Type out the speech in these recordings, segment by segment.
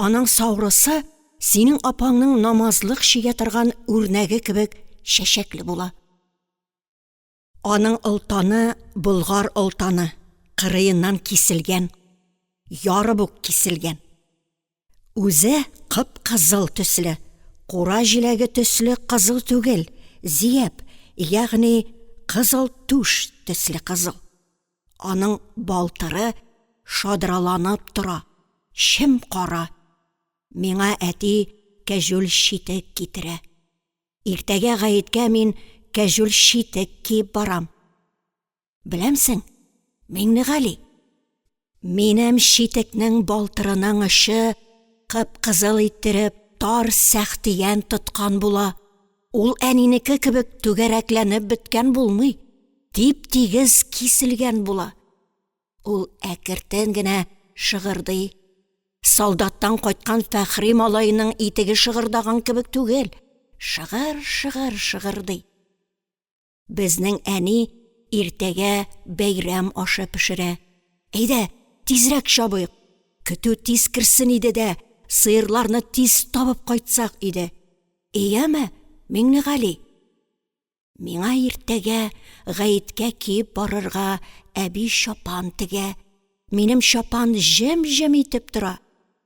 Аның саурысы синең апаңның намазлык чигә торган үрнәге кебек чәчәкле була. Аның олтаны болгар олтаны, кырыеннан киселгән, ярып ук киселгән. Үзе кып-кызыл төсле, кура җиләге төсле кызыл түгел, зияб, ягъни кызыл түш төсле кызыл. Аның балтыры шадраланып тора, чем-кара. Миңа әти кәҗүл читек китерә. Иртәгә гаеткә мин кәҗүл читек киеп барам. Беләмсең, Миңнегали, минем читекнең балтырының очы кып-кызыл иттереп тар сәхтиян тоткан була. Ул әнинеке кебек түгәрәкләнеп беткән булмый, тип-тигез киселгән була. Ул әкертен генә шыгырдый. Солдаттан кайткан Фәхри малаеның итеге шыгырдаган кебек түгел, шыгыр-шыгыр шыгырдый. Безнең әни иртәгә бәйрәм ашы пешерә. Әйдә, тизрәк чабыйк! Көтү тиз керсен иде дә, сыерларны тиз табып кайтсак иде. Ияме, Миңнегали? Миңа иртәгә гаеткә киеп барырга әби чапан тегә. Минем чапан җем-җем итеп тора.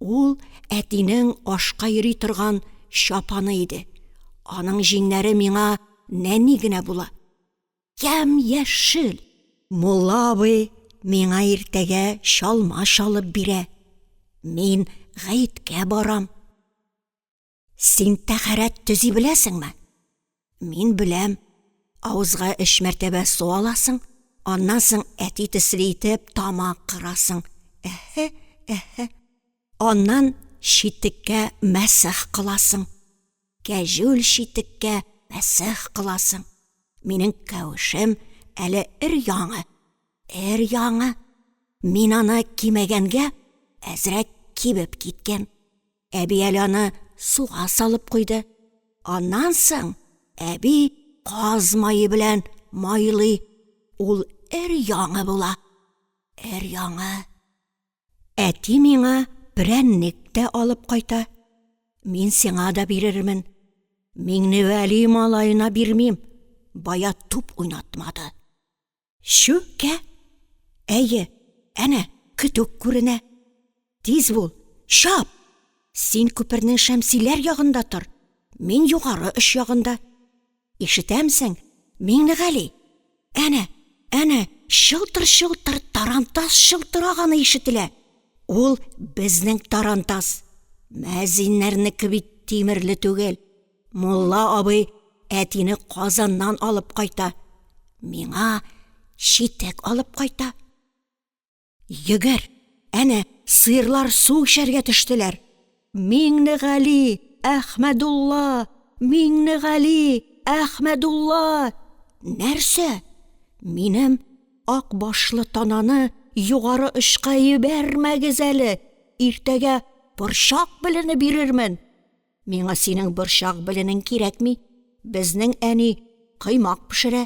Ул әтинең ашка йөри торган чапаны иде. Аның җиңнәре миңа нәни генә була. Ямь-яшел! Мулла абый миңа иртәгә чалма чалып бирә. Мин гаеткә барам. Син тәхәрәт төзи беләсеңме? Мин беләм. Авызга өч мәртәбә су аласың, аннан соң әти төсле итеп тамак кырасың. Әһә, әһә. Аннан читеккә мәсех кыласың. Кәҗүл читеккә мәсех кыласың. Минем кәвешем әле эр яңы. Эр яңы. Мин аны кимәгәнгә әзрәк кибеп киткән. Әби әле аны суга салып куйды. Аннан соң әби каз мае белән майлый. Ул өр-яңы була. Өр-яңы. Әти миңа прәннек тә алып кайта. Мин сиңа да бирермен. Миңневәли малаена бирмим, бая туп уйнатмады. Чүккә? Әйе, әнә, көтүк күренә. Тиз бул, чап! Син күпернең шәмсиләр ягында тор, мин югары оч ягында. Ишетәмсең, Миңнегали? Әнә, әнә, чылтыр-чылтыр тарантас чылтыраганы ишетелә. Ул безнең тарантас. Мәзиннәрнеке бит тимерле түгел. Мулла абый әтине Казаннан алып кайта, миңа читек алып кайта. Йөгер, әнә, сыерлар су эчәргә төштеләр. Миңнегали, Әхмәдулла! Миңнегали, Әхмәдулла! Нәрсә? Минем ак башлы тананы югары очка йибәрмәгез әле, иртәгә борчак белене бирермен. Миңа синең борчак беленең кирәкми, безнең әни коймак пешерә,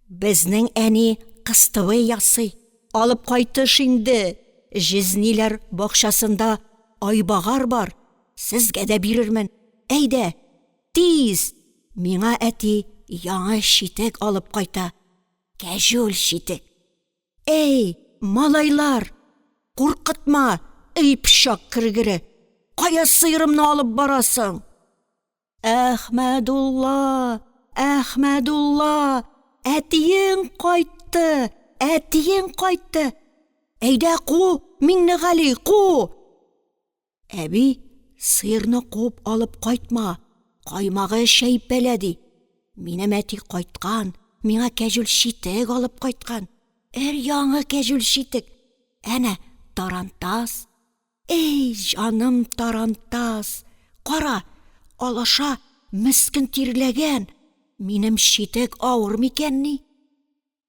безнең әни кыстыбый ясый. Алып кайтыш инде, җизниләр бакчасында айбагар бар, сезгә дә бирермен. Әйдә, тиз! Миңа әти яңы читек алып кайта, кәҗүл читек. Әй, малайлар, куркытма, ый пычак кергере, кая сыерымны алып барасың? Әхмәдулла! Әхмәдулла! Әтиең кайтты! Әтиең кайтты! Әйдә, ку, Миңнегали, ку! Әби, сыерны куып алып кайтма, каймагы чәеп бәла, ди. Минем әти кайткан, миңа кәҗүл читек алып кайткан. Өр-яңы кәҗүл читек. Әнә тарантас. Әй, җаным, тарантас! Кара, алаша мескен тирләгән. Минем читек авыр микәнни?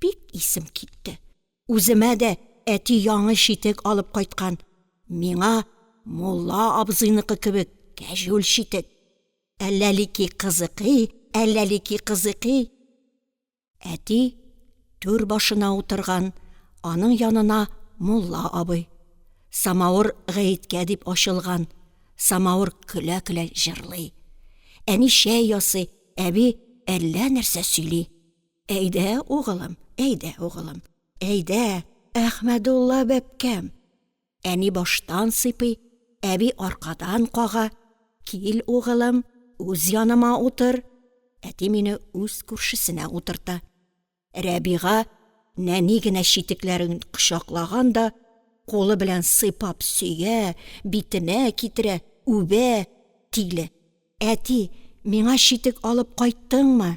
Бик исем китте. Үземә дә әти яңы читек алып кайткан, миңа мулла абзыйныкы кебек кәҗүл читек. Әлләлики кызыкый, әлләлики кызыкый. Әти, түр башына утырган, аның янына мулла абый. Самавыр гаеткә дип ачылган, самавыр көлә-көлә җырлый. Әни чәй ясый, әби әллә нәрсә сөйли. Әйдә, угылым, әйдә, угылым, әйдә, Әхмәдулла бәбкәм! Әни баштан сыйпый, әби аркадан кага. Кил, угылым, үз яныма утыр. Әти мине үз күршесенә утырта. Рәбига нәни генә читекләрен кочаклаган да, кулы белән сыйпап сөя, битенә китерә, үбә, тиле. Әти, миңа читек алып кайттыңмы?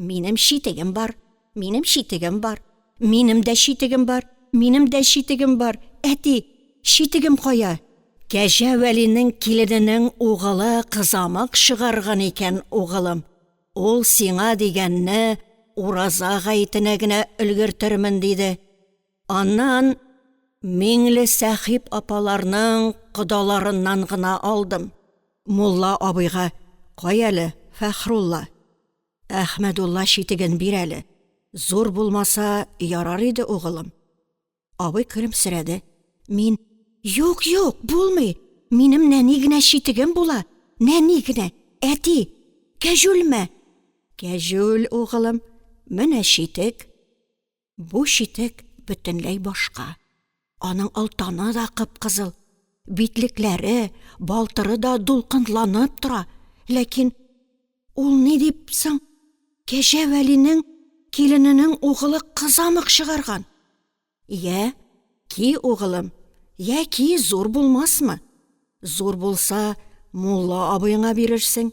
Минем читегем бар, минем читегем бар, минем дә читегем бар, минем дә читегем бар, әти, читегем кая? Кәҗә Вәлинең килененең угылы кызамык чыгарган икән, угылым. Ул сиңа дигәнне Ураза гаетенә генә өлгертермен диде. Аннан Миңлесәхип апаларның кодаларыннан гына алдым. Мулла абыйга, Кай әле, Фәхрулла, Әхмәдулла читеген бир әле, зур булмаса ярар иде, угылым. Абый көлемсерәде. Мин, Юк, юк, булмый, минем нәни генә читегем була, нәни генә, әти, кәҗүлме? Кәҗүл, угылым, менә читек. Бу читек бөтенләй башка. Аның олтаны да кып-кызыл, битлекләре, балтыры да дулкынланып тора. Ләкин ул ни дип соң Кәҗә Вәлинең килененең угылы кызамык чыгарган? Йә, ки, угылым, йә ки, зур булмасмы? Зур булса, мулла абыеңа бирерсең.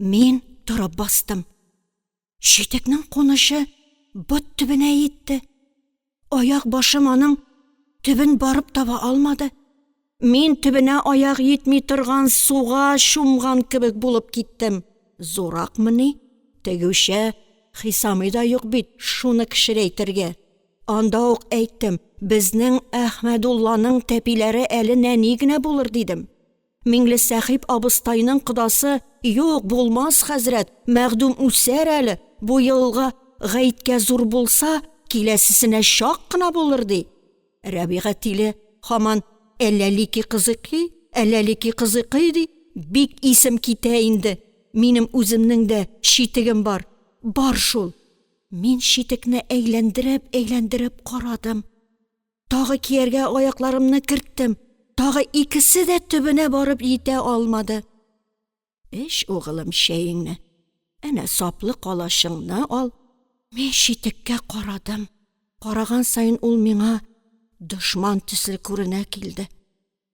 Мин торып бастым. Читекнең кунычы бот төбенә йитте. Аяк башым аның төбен барып таба алмады. Мин төбенә аяк йитми торган суга чумган кебек булып киттем. Зурракмыни, тегүчә Хисами да юк бит, шуны кечерәйтергә. Анда ук әйттем, безнең Әхмәдулланың тәпиләре әле нәни генә булыр, дидем. Миңлесәхип абыстайның кодасы, Юк, булмас, хәзрәт, мәхдүм үсәр әле, бу елга гаеткә зур булса, киләсесенә чак кына булыр, ди. Рәбига тиле һаман Әләлики кызыкый, Әләлики кызыкый, ди. Бик исем китә инде. Минем үземнең дә читегем бар. Бар шул. Мин читекне әйләндереп-әйләндереп карадым. Тагы кияргә аякларымны керттем, тагы икесе дә төбенә барып җитә алмады. Эч, угылым, чәеңне. Әнә саплы калачыңны ал. Мин читеккә карадым. Караган саен ул миңа дошман төсле күренә килде.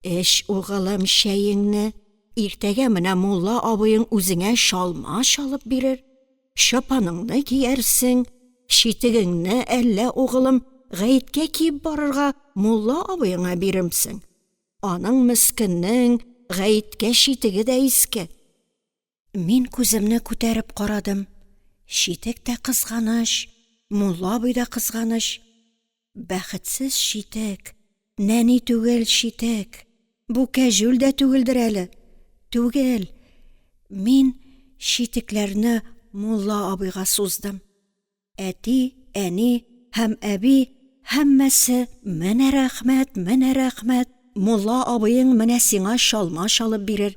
Эч, угылым, чәеңне, иртәгә менә мулла абыең үзеңә чалма чалып бирер, чапаныңны киярсең, читегеңне әллә, угылым, гаеткә киеп барырга мулла абыеңа биремсең? Аның, мескеннең, гаеткә читеге дә иске. Мин күземне күтәреп карадым. Читек тә кызганыч, мулла абый да кызганыч. Бәхетсез читек, нәни түгел читек. Бу кәҗүл дә түгелдер әле. Түгел. Мин читекләрне мулла абыйга суздым. Әти, әни һәм әби һәммәсе, Менә рәхмәт, менә рәхмәт, мулла абыең менә сиңа чалма чалып бирер,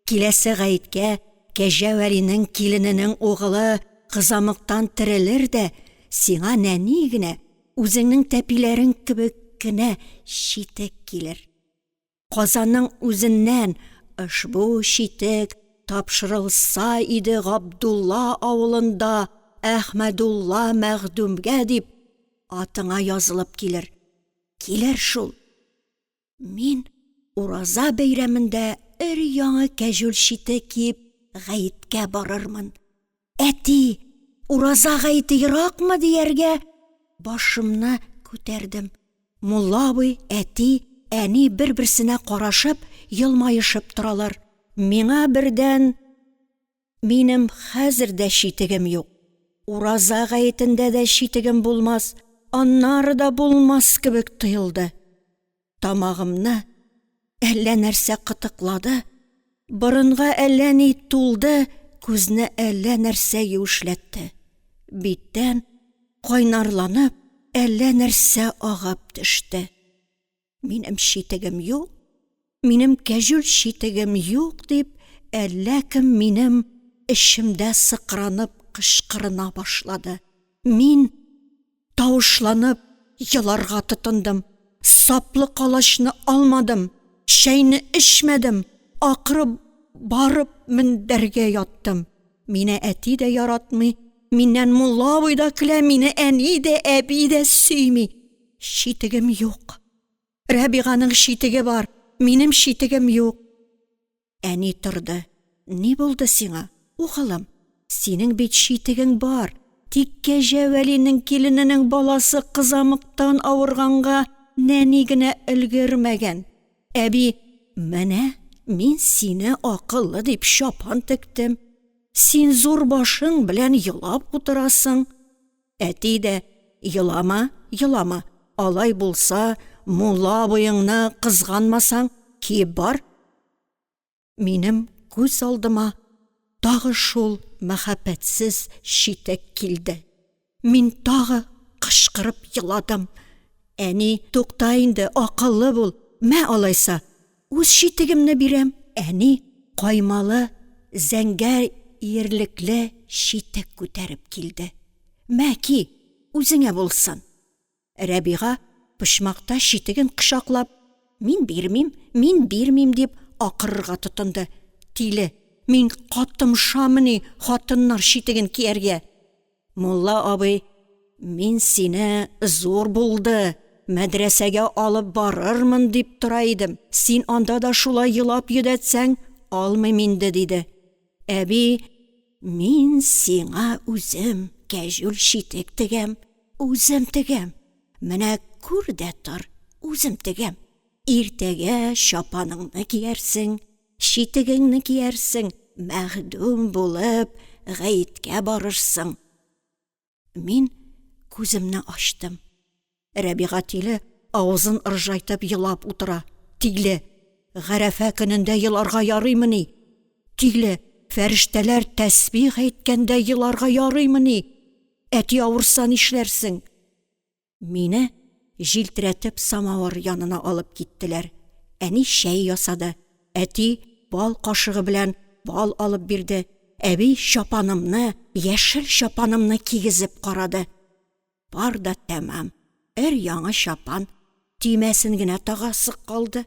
киләсе гаеткә Кәҗә Вәлинең килененең угылы кызамыктан терелер дә, сиңа нәни генә, үзеңнең тәпиләрең кебек кенә читек килер. Казанның үзеннән ошбу читек тапшырылса иде Габдулла авылында Әхмәдулла мәхдүмгә дип, атыңа язылып килер. Килер шул. Мин Ураза бәйрәмендә өр-яңы кәҗүл читек киеп гаеткә барырмын. Әти, ураза гаете еракмы? – дияргә, башымны күтәрдем. Мулла абый, әти, әни бер-берсенә карашып, елмаешып торалар. Миңа бердән, Минем хәзер дә читегем юк. Ураза гаетендә дә читегем булмас, аннары да булмас кебек тоелды. тамагымны әллә нәрсә кытыклады, борынга әллә ни тулды, күзне әллә нәрсә юешләтте. Биттән, кайнарланып, әллә нәрсә агып төште. Минем читегем юк, минем кәҗүл читегем юк, дип, әллә кем минем эчемдә сыкранып кычкырына башлады. Мин. тавышланып еларга тотындым. Саплы калачны алмадым, чәйне эчмәдем, акры барып мендәргә яттым. Мине әти дә яратмый, миннән мулла абый да көлә, мине әни дә, әби дә сөйми. Читегем юк. Рәбиганың читеге бар, минем читегем юк. Әни торды. Ни булды сиңа, угылым? Синең бит читегең бар. Тик Кәҗә Вәлинең килененең баласы кызамыктан авырганга нәни генә өлгермәгән. Әби, менә мин сине акыллы дип чапан тектем. Син зур башың белән елап утырасың. Әти дә, Елама, елама, алай булса, мулла абыеңны кызганмасаң, киеп бар. Минем күз алдыма тагы шул мәхәббәтсез читек килде. Мин тагы кычкырып еладым. Әни, Тукта инде, акыллы бул, мә алайса! Үз читегемне бирәм. Әни каймалы зәңгәр иерлекле читек күтәреп килде. Мә, ки, үзеңә булсын. Рәбига, почмакта читеген кочаклап, Мин бирмим, мин бирмим, дип акырырга тотынды. Тиле, мин катымшамыни хатыннар читеген кияргә? Мулла абый, мин сине зур булды, мәдрәсәгә алып барырмын дип тора идем, син анда да шулай елап йөдәтсәң, алмыйм инде, – диде. Әби: – Мин сиңа үзем кәҗүл читек тегәм, үзем тегәм. Менә күр дә тор, үзем тегәм. Иртәгә чапаныңны киярсең. Читегеңне киярсең, мәхдүм булып, гаеткә барырсың. Мин күземне ачтым. Рәбига тиле авызын ыржайтып елап утыра. Тиле, гарәфә көнендә еларга ярыймыни? Тиле, фәрештәләр тәсбих әйткәндә еларга ярыймыни? Әти авырса нишләрсең? Мине җилтерәтеп самавыр янына алып киттеләр. Әни чәй ясады, әти бал кашыгы белән бал алып бирде, әби чапанымны, яшел чапанымны кигезеп карады. Бар да тәмам, өр-яңы чапан, төймәсен генә тагасы калды.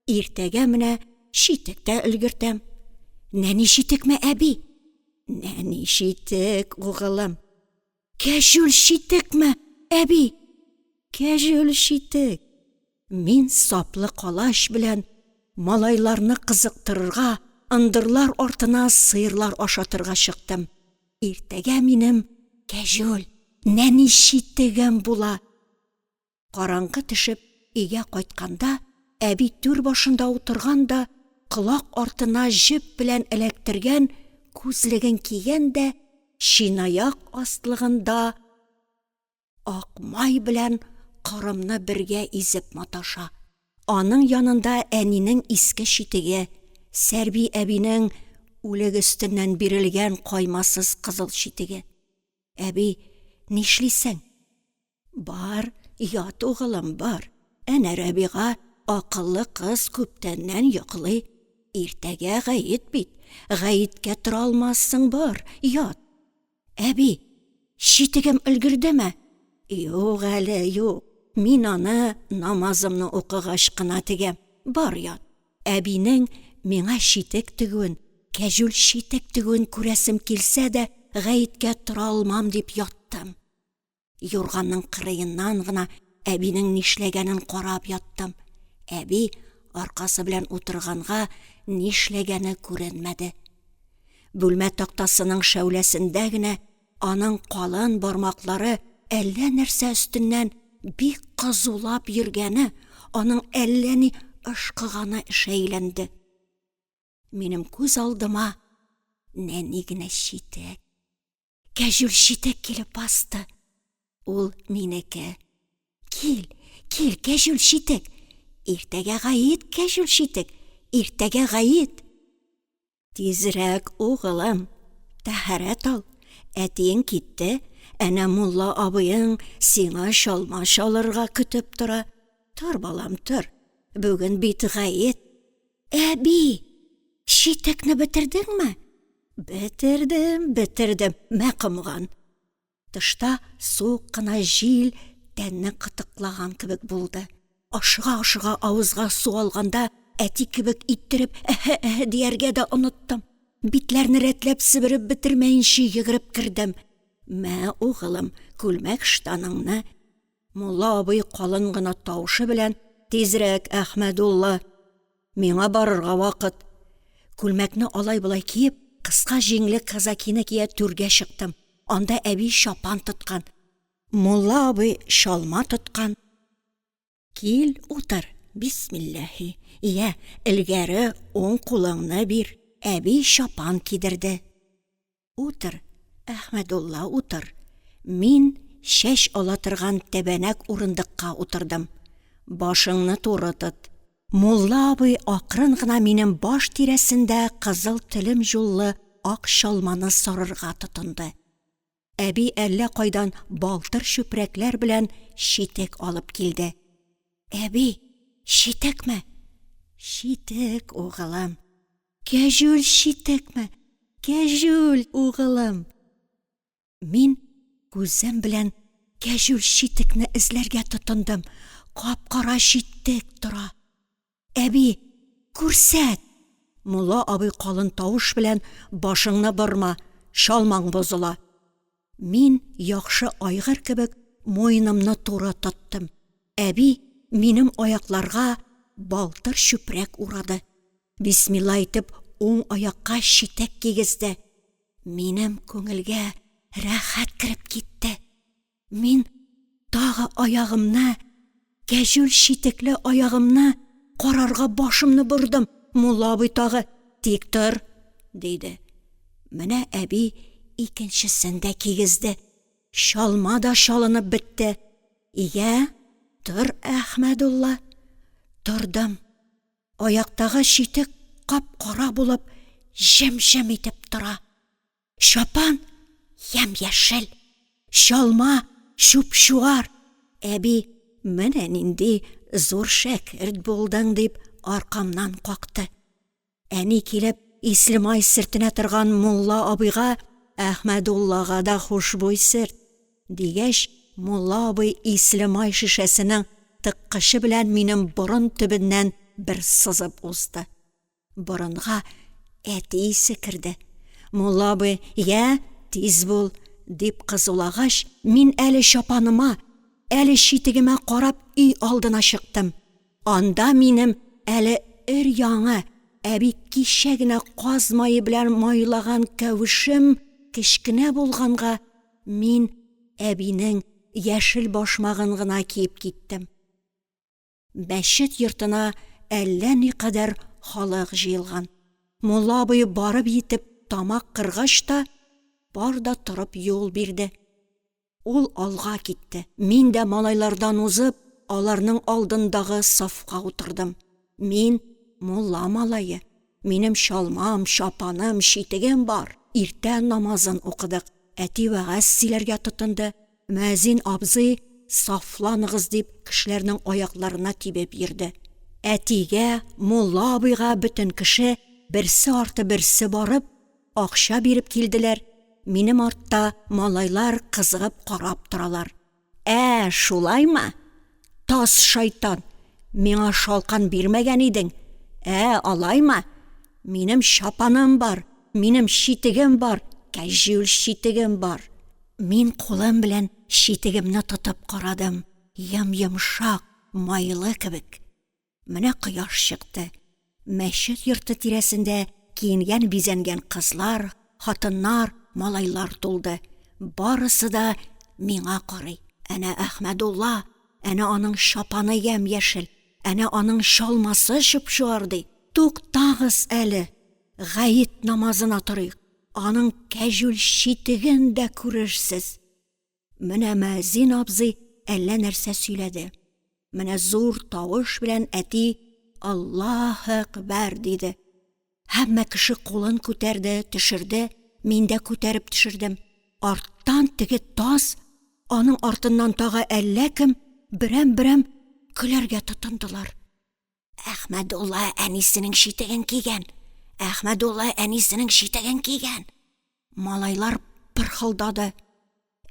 Иртәгә менә читек тә өлгертәм. Нәни читекме, әби? Нәни читек, угылым. Кәҗүл читекме, әби? Кәҗүл читек. Мин саплы калач белән малайларны кызыктырырга, ындырлар артына сыерлар ашатырга чыктым. Иртәгә минем кәҗүл нәни читегем була. Караңгы төшеп, өйгә кайтканда, әби түр башында утырган да, колак артына җеп белән эләктергән күзлеген кигән дә, чынаяк астлыгында ак май белән корымны бергә изеп маташа. Аның янында әнинең иске читеге, Сәрби әбинең үлек өстеннән бирелгән каймасыз кызыл читеге. Әби, нишлисең? Бар, ят, угылым, бар. Әнә Рәбига, акыллы кыз, күптәннән йоклый. Иртәгә гает бит. Гаеткә тора алмассың, бар, ят. Әби, читегем өлгердеме? Юк әле, юк. Мин аны намазымны укыгач кына тегәм. Бар, ят. Әбинең миңа читек тегүен, кәҗүл читек тегүен күрәсем килсә дә, гаеткә тора алмам дип яттым. Юрганның кырыеннан гына әбинең нишләгәнен карап яттым. Әби аркасы белән утырганга, нишләгәне күренмәде. Бүлмә тактасының шәүләсендә генә аның калын бармаклары әллә нәрсә өстеннән бик кызулап йөргәне, аның әллә ни ышкыганы шәйләнде. Минем күз алдыма нәни генә читек, кәҗүл читек килеп басты. Ул минеке. Кил, кил, кәҗүл читек. Иртәгә гаит, кәҗүл читек. Иртәгә гаит. Тизрәк, угылым, тәһарәт ал. Әтиең китте, әнә мулла абыең сиңа чалма чалырга көтеп тора. Тор, балам, тор. Бүген бит гаит. Әби, читекне бетердеңме? Бетердем, бетердем, мә комган. Тышта суык кына җил тәнне кытыклаган кебек булды. Ашыга-ашыга авызга су алганда, әти кебек иттереп әһә-әһә дияргә дә оныттым. Битләрне рәтләп себереп бетермәенче йөгереп кердем. Мә, угылым, күлмәк-ыштаныңны Мулла абый калын гына тавышы белән: – Тизрәк, Әхмәдулла! Миңа барырга вакыт! Күлмәкне алай-болай киеп, кыска җиңле казакины кия түргә чыктым. Анда әби чапан тоткан, мулла абый чалма тоткан. Кил, утыр, бисмилләһи, йә, элгәре уң кулыңны бир! Әби чапан кидерде. Утыр, Әхмәдулла, утыр. Мин чәч ала торган тәбәнәк урындыкка утырдым. Башыңны туры тот. Мулла абый акрын гына минем баш тирәсендә кызыл телемҗуллы ак чалманы сарырга тотынды. Әби әллә кайдан балтыр чүпрәкләр белән читек алып килде. Әби, читекме? Читек, угылым. Кәҗүл читекме, кәҗүл угылым! Мин күзем белән кәҗүл читекне эзләргә тотындым. Кап-кара читек тора. Әби, күрсәт! Мулла абый калын тавыш белән, Башыңны борма, чалмаң бозыла. Мин яхшы айгыр кебек муенымны туры тоттым. Әби минем аякларга балтыр чүпрәк урады. Бисмилла әйтеп, уң аякка читек кигезде. Минем күңелгә рәхәт кереп китте. Мин тагы аягымны Кәҗүл читекле аягымны карарга башымны бордым, мулла абый тагы: – Тик тор! – диде. Менә әби икенчесен дә кигезде. Чалма да чалынып бетте. Йә, тор, Әхмәдулла! Тордым. Аяктагы читек кап-кара булып, җем-җем итеп тора. Чапан ям яшел, чалма чуп чуар. Әби, менә нинди зур шәкерт булдың, дип аркамнан какты. Әни килеп, Ислемай сөртенә торган мулла абыйга, Әхмәдуллага да хушбуй сөрт, дигәч, мулла абый Ислемай шешәсенең тыккычы белән минем борын төбеннән бер сызып узды. Борынга әти исе керде. Мулла абый, Йә, тиз бул! дип кызулагач, мин әле чапаныма, әле читегемә карап өй алдына чыктым. Анда минем әле өр-яңы, әби кичә генә каз мае белән майлаган кәвешем кечкенә булганга, мин әбинең яшел башмагын гына киеп киттем. Мәчет йортына әллә никадәр халык җыелган. Мулла абый барып җитеп тамак кыргач та, бар да торып юл бирде. Ул алга китте. Мин дә малайлардан узып, аларның алдындагы сафка утырдым. Мин, мулла малае. Минем чалмам, чапаным, читегем бар. Иртә намазын укыдык. Әти вәгазь сөйләргә тотынды. Мөәзин абзый, сафланыгыз! дип, кешеләрнең аякларына тибеп йөрде. Әтигә, мулла абыйга бөтен кеше, берсе арты берсе барып, акча биреп килделәр, минем артта малайлар кызыгып карап торалар. Ә шулаймы? Таз шайтан! Миңа шалкан бирмәгән идең! Ә, алаймы? Минем чапаным бар, минем читегем бар, кәҗүл читегем бар. Мин кулым белән читегемне тотып карадым, йом-йомшак, майлы кебек. Менә кояш чыкты. Мәчет йорты тирәсендә киенгән-бизәнгән кызлар, хатыннар, малайлар тулды. Барысы да миңа карый. Әнә Әхмәдулла, әнә аның чапаны ямь-яшел, әнә аның чалмасы чуп-чуар, ди. Туктагыз әле, гает намазына торыйк, аның кәҗүл читеген дә күрерсез. Менә мөәзин абзый әллә нәрсә сөйләде. Менә зур тавыш белән әти Аллаһе әкбәр! диде. Һәммә кеше кулын күтәрде, төшерде, мин дә күтәреп төшердем. Арттан теге таз, аның артыннан тагы әллә кем берәм-берәм көләргә тотындылар. Әхмәдулла әнисенең читеген кигән! Әхмәдулла әнисенең читеген кигән! Малайлар пырхылдады.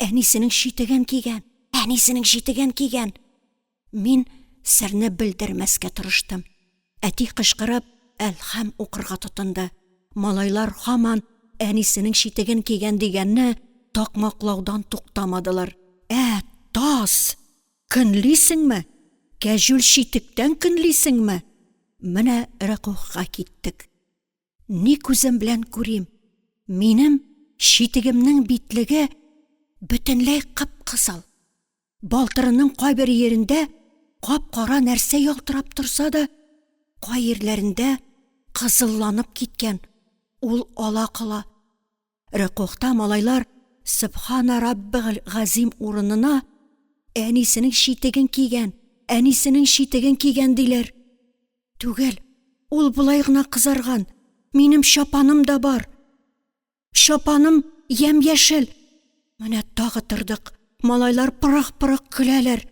Әнисенең читеген кигән! Әнисенең читеген кигән! Мин серне белдермәскә тырыштым. Әти кычкырып, әлхәм укырга тотынды. Малайлар һаман әнисенең читеген кигән дигәнне такмаклаудан туктамадылар. Ә, таз! Көнлисеңме? Кәҗүл читектән көнлисеңме? Менә рөкүгъга киттек. Ни күзем белән күрим, минем читегемнең битлеге бөтенләй кып-кызыл. Балтырының кайбер йирендә кап-кара нәрсә ялтырап торса да, кай йирләрендә кызылланып киткән, ул ала-кола. Рөкүгъта малайлар Сөбхана раббигель газим урынына Әнисенең читеген кигән, әнисенең читеген кигән, диләр. Түгел, ул болай гына кызарган, минем чапаным да бар. Чапаным ямь-яшел. Менә тагы тордык. Малайлар пырых-пырых көләләр.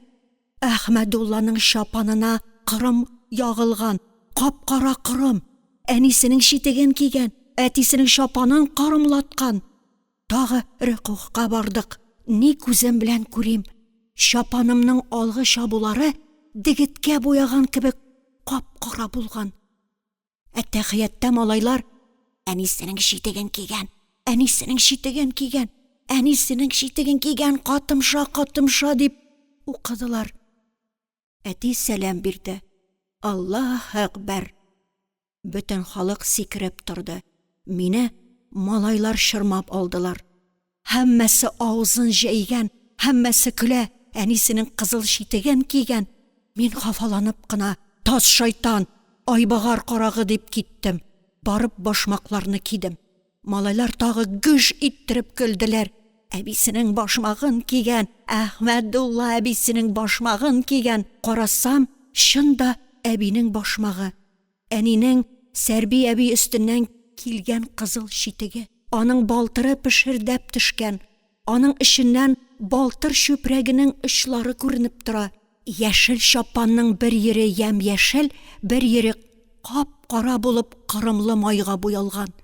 Әхмәдулланың чапанына кырым ягылган, кап-кара кырым, әнисенең читеген кигән, әтисенең чапанын кырымлаткан. Тагы рөкүгъка бардык. Ни күзем белән күрим, чапанымның алгы чабулары дегеткә буяган кебек кап-кара булган. Әттәхиятта малайлар әнисенең читеген кигән, әнисенең читеген кигән, әнисенең читеген кигән, катымша, катымша, дип укыдылар. Әти сәлам бирде. Аллаһ әкбәр! Бөтен халык сикереп торды. Мине малайлар чормап алдылар. Һәммәсе авызын җәйгән, һәммәсе көлә, әнисенең кызыл читеген кигән. Мин хафаланып кына, Таз шайтан, айбагар карагы, дип киттем. Барып башмакларны кидем. Малайлар тагы гөж иттереп көлделәр. Әбисенең башмагын кигән, Әхмәдулла әбисенең башмагын кигән. Карасам, чын да әбинең башмагы. Әнинең Сәрби әби өстеннән килгән кызыл читеге, аның балтыры пешердәп төшкән, аның эченнән балтыр чүпрәгенең очлары күренеп тора, яшел чапанның бер йире ямь-яшел, бер йире кап-кара булып корымлы майга буялган.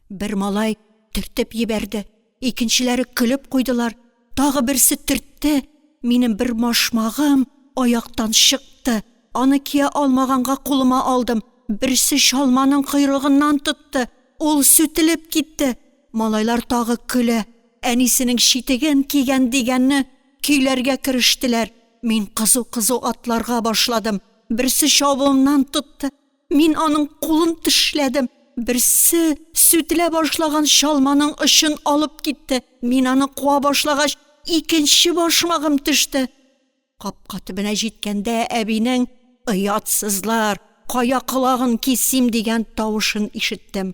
Бер малай төртеп йибәрде. икенчеләре көлеп куйдылар, тагы берсе төртте, минем бер машмагым аяктан чыкты, аны кия алмаганга кулыма алдым, берсе чалманың койрыгыннан тотты, ул сүтелеп китте, малайлар тагы көлә, әнисенең читеген кигән дигәнне көйләргә керештеләр, мин кызу-кызу атларга башладым, берсе чабуымнан тотты, Мин аның кулын тешләдем. Берсе сүтелә башлаган чалманың очын алып китте. Мин аны куа башлагач, икенче башмагым төште. Капка төбенә җиткәндә, әбинең «Оятсызлар, кая колагын кисим!» дигән тавышын ишеттем.